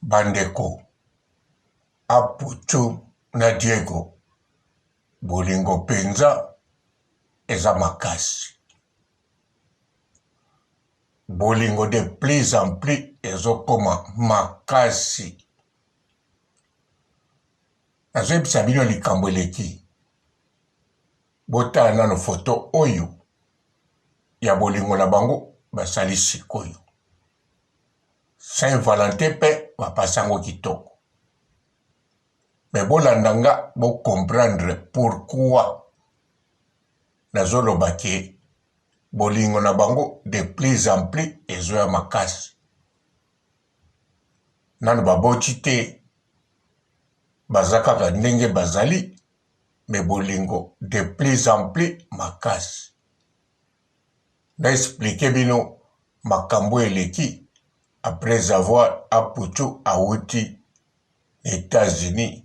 bandeko Apocho na Diego bolingo penza eza makasi bolingo de plus en plus ezokoma makasi nazoyebisa bino likambo eleki Botala nano photo oyo ya bolingo na bango basali sikoyo. Saint Valentin pe ba pasa yango kitoko. Mais bolanda nga bo comprendre pourquoi nazo loba que bolingo na bango de plus en plus ezo ya makasi. Nano baboti te, baza kaka ndenge bazali. mais bolingo de plus en plus makasi. Na expliquer bino makambu eleki après avoir Apoutchou awuti na Etats Unis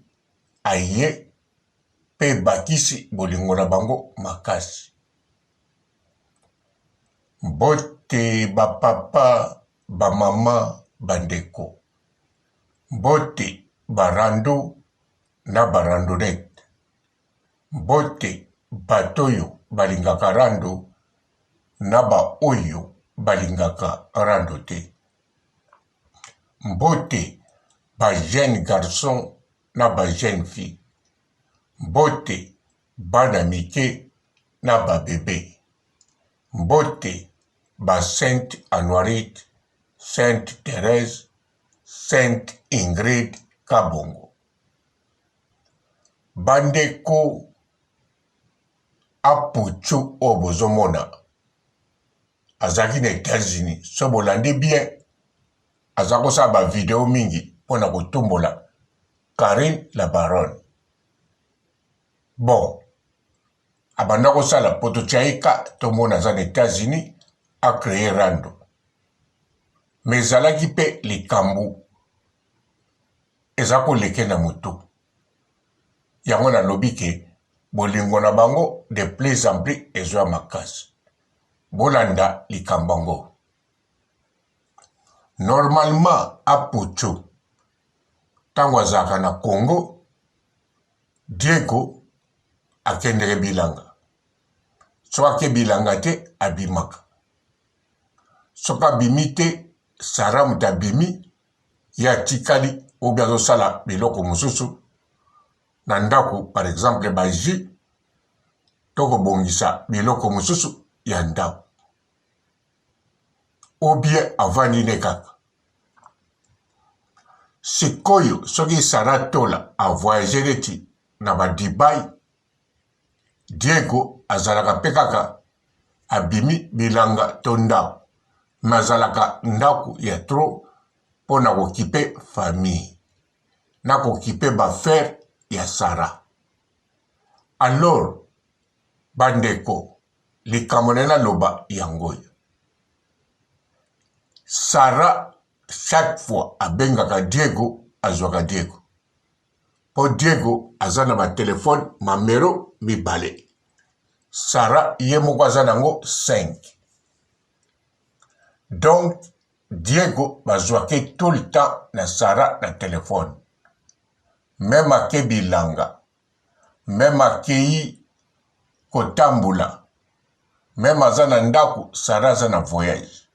aye pe ebakisi bolingo na bango makasi. Mbote ba papa, ba maman, ba ndeko. Mbote ba rando na ba randonnettes. Mbote bato oyo balingaka rando na ba oyo balingaka rando te. Mbote ba jeunes garçons na ba jeunes filles. Mbote bana mike na ba bebes. Mbote ba Sainte Anuarite, Sainte Therèse, Sainte Ingrid, Kabongo. Bandeko Apocho oyo bozomona azalaki na Etats-Unis, soki bolandi bien aza kosala ba video mingi mpo na kotumbola Carine la Baronne. Bon, abanda kosala mpo totya ye ka tomona aza na Etats-Unis a cree rando, mais ezalaki mpe likambo Eza ko leke na mutu. Yango na lobi ke bolingo na bango de plus en plus ezo ya makasi. Bo landa likambo yango. Normalement Apocho tango azalaka na Congo, Diego akendeke bilanga. Soki ake bilanga te abimaka. Soki abimi te, Sarah mutu abimi ye atikali ou bien azosala biloko mosusu na ndako par exemple ba jus to kobongisa biloko mosusu ya ndako ou bien avandi nde kaka sikoyo soki sara tola avoyage neti na ba dubai Diego azalaka pe kaka abimi bilanga to ndaku mais azalaka ndaku ya trop pona ko kipe famille na ko kipe ba affaire ya Sarah alors ba ndeko likambo naye naloba yango oyo Sarah chaque fois abengaka Diego azwaka Diego po Diego aza na ba telephone mamero mibale Sarah ye moko aza nango cinq donc Diego bazuake tout le temps na Sarah na telephone meme ake bilanga meme akeyi kotambula meme aza na ndaku Sarah aza na voyage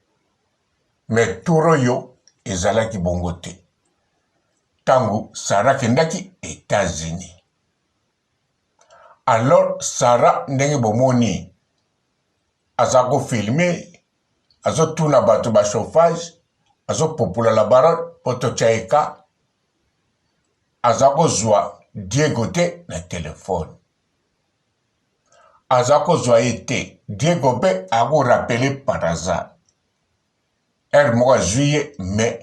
mais tour oyo ezalaki bongo te. Tango Sarah kendaki Etats-Unis. Alors Sarah ndenge bomoni aza ko filme azo tuna bato ba chauffage azo popola la baronne po totya ye ka aza kozwa Diego te na telefone aza kozwa ye te Diego mpe akorapele par hasard heure moko azui ye mais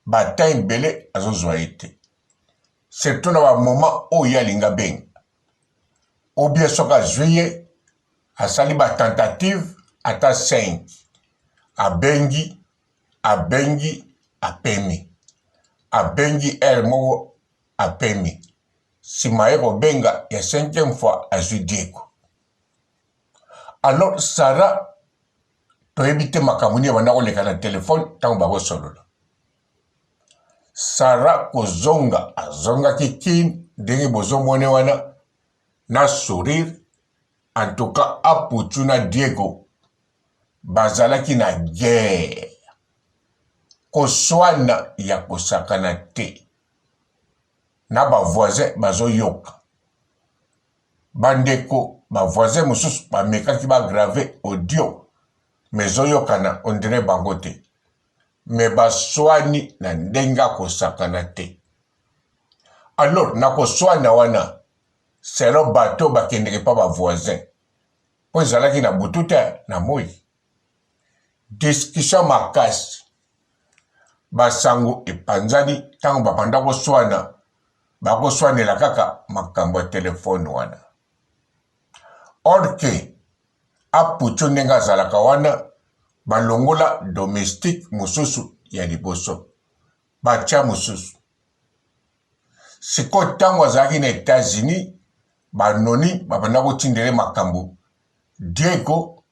ba temps ebele azozua ye te surtout na ba moment oyo ye alingi abenga ou bien soki azui ye asali ba tentative ata 5 abengi abengi apemi abengi heure moko apemi sima ye kobenga ya cinquième fois azui diego alors sara toyebi te makambo nini ebanda koleka na telefone ntango bakosolola sara kozonga azongaki kin ndenge bozomone wana na sourire en tout cas aputu na diego bazalaki na guerre koswana ya kosakana te na bavoisin bazoyoka Ba ndeko ba voisins mosusu ba mekaki ba graver audio mais ezo yokana on dirait bango te mais ba suani na ndenge ya ko sakana te. Alors na ko suana wana selon bato oyo ba kendeke epa ba voisins po ezalaki na butu te na moyi. Discussion makasi. Basango epanzani tango babanda koswana bakoswanela kaka makambo ya telefone wana. Or que Apucho ndenge azalaka wana balongola domestique mosusu ya liboso batya mosusu. Sikoyo ntango azalaki na Etats-Unis banoni babanda kotindele makambo Diego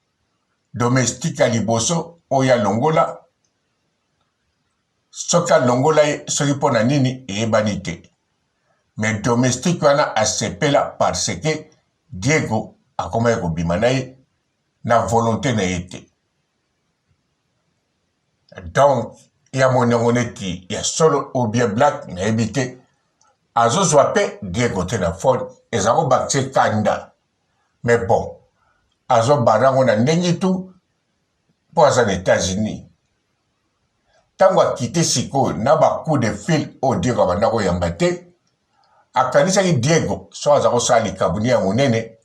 domestique ya liboso oyo ya longola soki alongola ye soki mpo na nini eyebani te me domestique wana asepela parce que diego akomaki kobima na ye na volonté na ye te donc ya moni yango neti ya solo ou bien black nayebi te azozwa mpe diego te na fone eza kobakisa ekanda mais bon azo banda ngo na ndenge tout po aza na etats unis tango akite sikoyo na ba coup de fil oyo diego abanda koyamba te akanisaki diego so aza kosala likabuni ya monene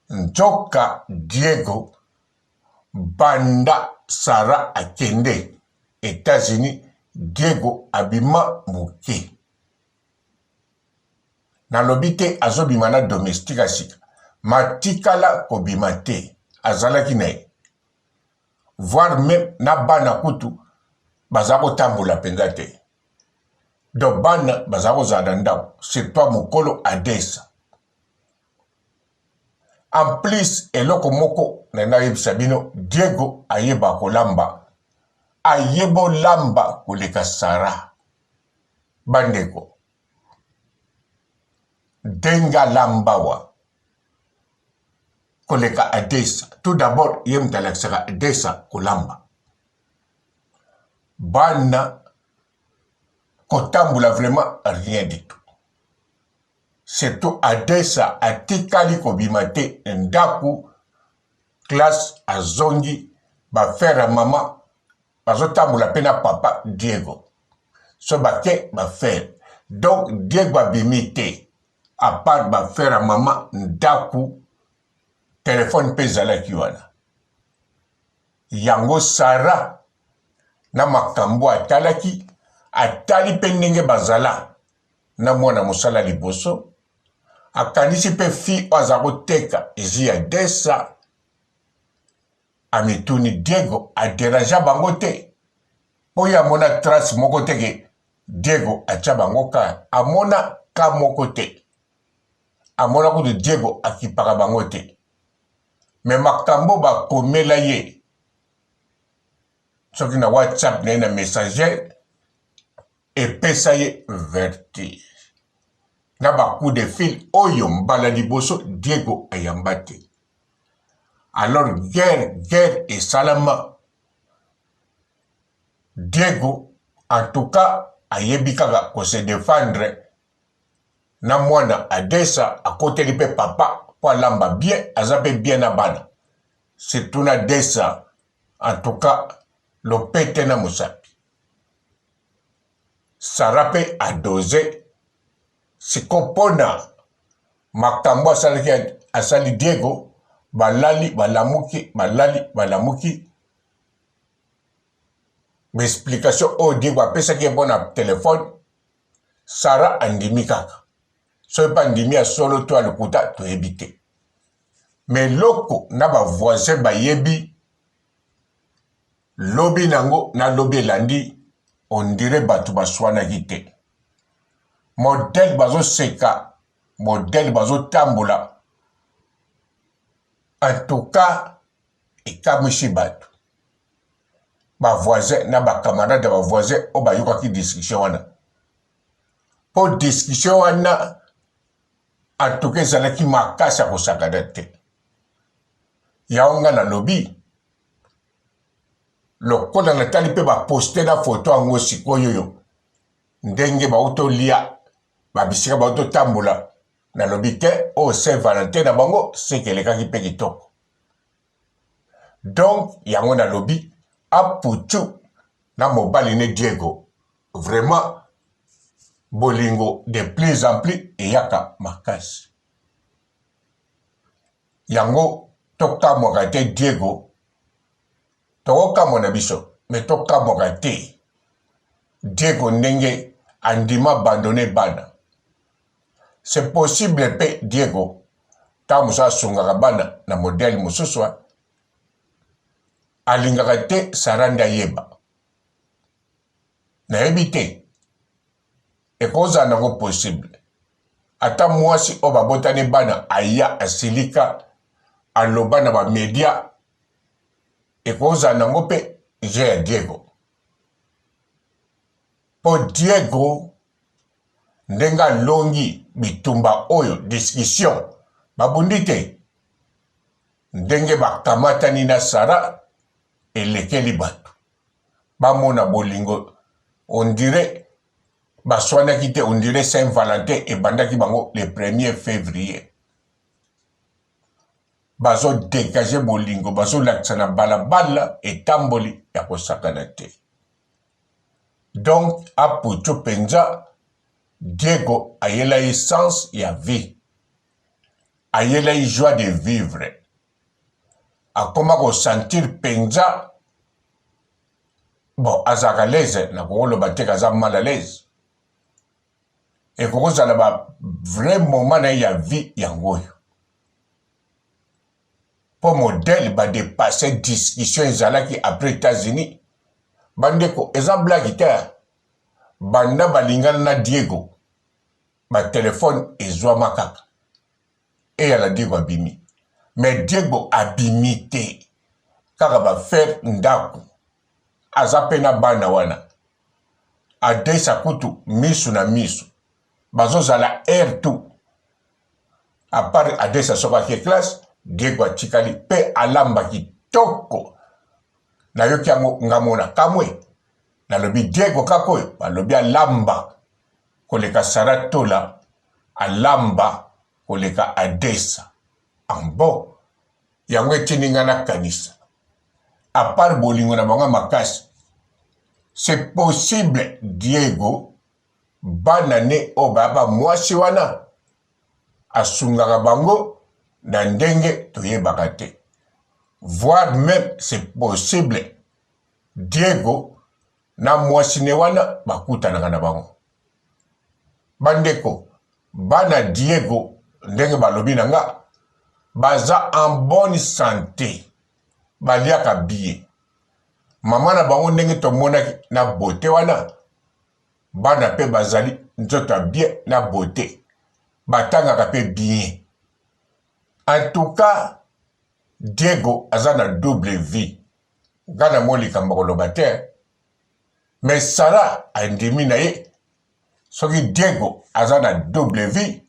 nzoka diego banda sara akende etats unis diego abima moke Nalobi te azobima na domestique ya sika, ma tikala kobima te azalaki na ye voir meme na bana kutu baza kotambola mpenza te donc bana baza kozala na ndako c'est pas mokolo adesa en plus eloko moko na nayebisa bino diego ayeba kolamba ayeba olamba koleka sara Bandeko, Denga Lambawa koleka Adesa, tout d'abord ye moto alakisaka Adesa kolamba. Bana kotambola vraiment rien du tout. Surtout Adesa atikali kobima te ndako classe azongi ba frère ya mama bazotambola pe na papa diego so bake bafere donc diego abimi te apart bafere ya mama ndaku telefone mpe ezalaki wana yango sara na makambo atalaki atali mpe ndenge bazala na mwana mosala liboso akanisi mpe fi oyo aza koteka ji ya desa Amituni Diego a derangea bango te po ye amona trace moko te ke Diego atia bango cas, amona cas moko te, amona kutu Diego akipaka bango te mais makambo oyo ba komela ye soki na WhatsApp na ye na Messenger epesa ye vertige na ba coup de fil oyo mbala liboso Diego ayamba te. alors guerre guerre esalama Diego en tout cas ayebi kaka ko se defendre na mwana adesa akoteli pe papa po alamba bien aza pe bien na bana surtout na desa en tout cas lopete na mosapi Sarah pe adose siko pona Makambo asalaki asali Diego balali balamuki balali balamuki ba explication oyo Diego apesaki ye mpo na telefone Sara andimi kaka soki mpe andimi ya solo to ya lokuta toyebi te me eloko na bavoisin bayebi Lobi nango na lobi elandi on dirait batu basuanaki te. Modèle bazo seka, modèle bazo tambola en tout cas ekamwisi batu. Ba voisins na ba camarades ya ba voisins oyo bayokaki discussion wana. Po discussion wana en tout cas ezalaki makasi ya kosakana te. Yango nga nalobi lokola natali mpe baposte na foto yango sikoyo oyo ndenge bauti olia babisika bauti otambola nalobi te oyo oh, saint valentin na bango seke elekaki mpe kitoko donk yango nalobi aputu na mobali ne diego vraiment bolingo de plus en plus eyaka makasi Yango tokamwaka te Diego, tokokamwa na biso mais tokamwaka te Diego ndenge andima abandonne bana. C'est possible pe Diego tango mosusu asungaka bana na modèle mosusu alingaka te Sarah nde ayeba. Nayebi te. Ekozala nango possible ata muasi oyo babotani bana aya asilika aloba na ba media ekozala nango pe jeu ya Diego po Diego ndenge alongi bitumba oyo discussion babundi te ndenge bakamatani na Sarah elekeli batu. bamona bolingo on dirait baswanaki te on dirait saint valentin ebandaki bango le premier fevrier bazo degage bolingo bazolakisa na balabala etamboli ya kosakana te donc aputu mpenza diego ayela ye sens ya vie ayela ye joie de vivre akoma ko sentir penza bon azalaka leze nakokoloba te kaza mal à l'aise ekoki kozala ba vrai moment na ye ya vie yango oyo mpo modele badepasse discussion ezalaki après états-unis bandeko eza blaki te banda balingana na diego batelefone ezwama kaka et ala Diego abimi mais Diego abimi te kaka ba faire ndaku aza pe na bana wana adesa kutu misu na misu bazo zala heure tout à part adesa soki ake classe Diego atikali pe alamba kitoko nayoki yango nga mona kamwe nalobi Diego kaka oyo balobi alamba koleka Sarah Tola Alamba koleka Adessa. Ah bon? Yango etindi nga na kanisa. A part bolingo na bango ya makasi, c'est possible Diego bana ne oyo baya ba mwasi wana asungaka bango na ndenge toyebaka te. Voir meme c'est possible Diego na mwasi ne wana bakutanaka na bango bandeko bana Diego ndenge balobi na nga baza en bonne sante baliaka biye mama na bango ndenge tomonaki na bote wana bana mpe bazali nzoto ya bien na bote batangaka mpe bien en tout cas Diego aza na double vie nga na moni likambo koloba te me sara andimi na ye soki diego aza na double vie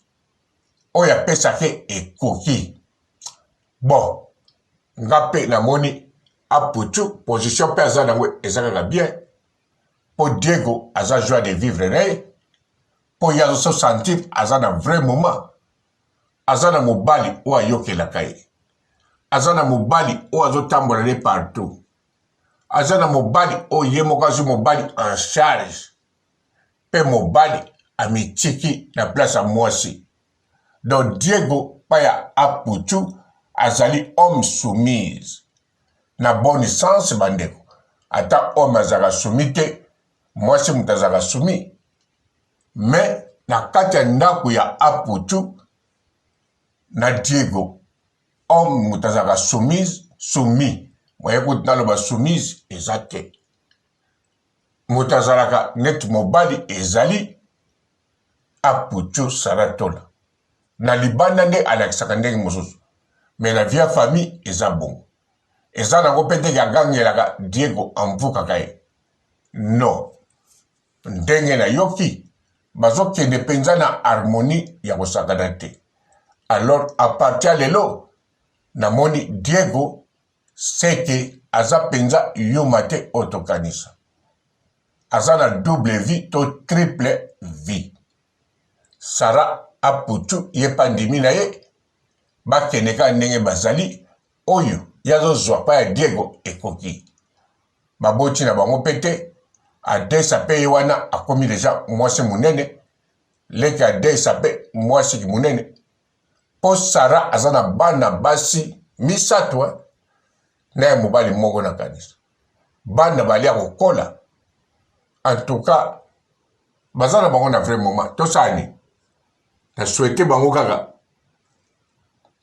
oyo apesaki ekoki bon nga mpe namoni aputu position mpe aza nango eza kaka bien mpo diego aza joie de vivre na ye mpo ye azoso sentir aza na vrai moment aza na mobali oyo ayokelaka ye aza na mobali oyo azotambola ne partout aza na mobali oyo ye moko azwi mobali en charge mpe mobali amitiki na place ya mwasi donc diego paya aputu azali homme soumise na bon sens bandeko ata homme azalaka sumi te mwasi moto azalaka sumi mais na kati ya ndaku ya Apoutchou na Diego homme moto azalaka soumise soumis moye kutu naloba soumise eza te moto azalaka neti mobali ezali Apoutchou Saratola na libanda nde alakisaka ndenge mosusu mais na via famille eza bongo eza nango mpe te agangelaka Diego amvukaka ye non Ndenge nayoki, bazokende penza na harmonie ya kosakana te. Alors à partir ya lelo, namoni Diego seke aza penza Yuma te oyo tokanisa. Aza na double vie to triple vie. Sarah aputu ye pe andimi na ye, bakende kaka ndenge bazali, Oyo ye azo zua pa ya Diego ekoki ba boti na bango pe te adesa pe ye wana akomi deja mwasi munene leki adesa pe mwasi ki munene po Sarah aza na bana basi misatu hein na ya mobali moko na kanisa bana balia kokola en tout cas baza na bango na vrai moment tosala nini na souhaite bango kaka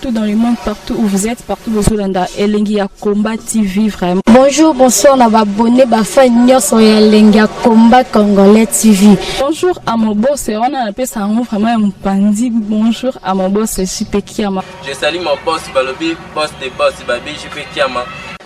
tout dans le monde, partout où vous êtes, partout où vous êtes, Elengi ya Combat TV vraiment. Bonjour, bonsoir, na abonné, ba fan nyoso ya Elengi ya Combat Congolais TV. Bonjour à mon boss, on a appelé ça vraiment un pandi. Bonjour à mon boss, JP Kiama. Je salue mon boss Balobi, boss des boss, Babi JP Kiama.